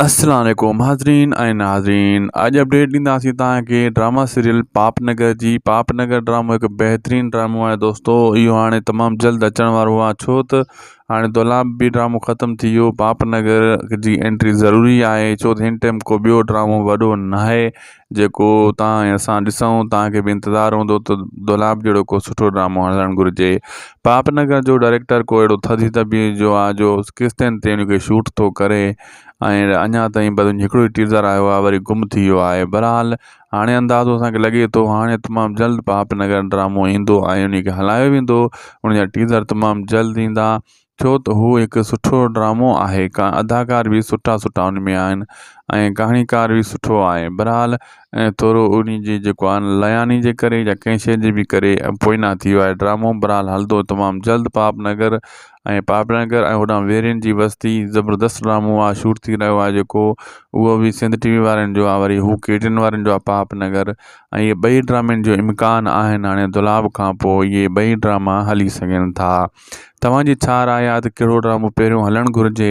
السلام عليڪم حاضرين ۽ ناظرين اڄ اپڊيٽ ڏينداسين تانکي ڊراما سيريل پاپ نگر جي پاپ نگر ڊرامو هڪ بهترين ڊرامو آهي دوستو اهو هاڻي تمام جلد اچڻ وارو آهي ڇو ته هاڻي دولاب به ڊرامو ختم ٿي ويو پاپ نگر جي انٽري ضروري آهي ڇو ته هن ٽيم ڪو ٻيو ڊرامو وڏو ناهي جيڪو تهان ۽ اسان ڏسون تهان کي به انتظار هوندو ته دولاب جهڙو ڪو سٺو ڊرامو هلڻ گهرجي پاپ نگر جو ڊائريڪٽر ڪو اهڙو ٿڌي طبيع جو آ جو قسطين تي ان کي شوٽ ٿو ڪري ۽ اڃا تائين بس هڪڙو ئي ٽيزر آيو آ وري گم ٿي ويو آهي بهرحال هاڻي اندازو اسان کي لڳي ٿو هاڻي تمام جلد پاپ نگر ڊرامو ايندو ۽ ان کي هلايو ويندو ان جا ٽيزر تمام جلد ايندا ڇو ته هو هڪ سٺو ڊرامو آهي اداڪار به سٺا سٺا ان ۾ آهن ۽ ڪهاڻيڪار به سٺو آهي بحرحال ۽ ٿورو ان جي جيڪو آهي نه لياني جي ڪري يا ڪنهن شي جي به ڪري پوئنا ٿي ويو آهي ڊرامو بحرحال هلندو تمام جلد پاپ نگر ۽ پاپ نگر ۽ هوڏانهن ويرين جي وستي زبردست ڊرامو آهي شوٽ ٿي رهيو آهي جيڪو اهو به سنڌ ٽي وي وارن جو آهي وري هو ڪي ٽي اين وارن جو آهي پاپ نگر ۽ اهي ٻئي ڊرامن جو امڪان آهن هاڻي دولاب کان پوء اهي ٻئي ڊراما هلي سگهن ٿا توهان جي ڇا راء آهي ته ڪهڙو ڊرامو پهريون هلڻ گهرجي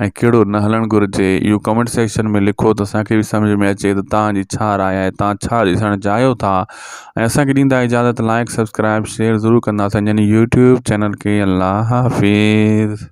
۽ ڪهڙو نه هلڻ گهرجي اهو ڪمينٽ سيڪشن ۾ لکو ته اسان کي به سمجهه ۾ اچي ته توهان جي ڇا راء آهي توهان ڇا ڏسڻ چاهيو ٿا ۽ اسان کي ڏيندا اجازت لائيڪ سبسڪرائب شيئر ضرور ڪندا سنجن يوٽيوب چينل کي الله حافظ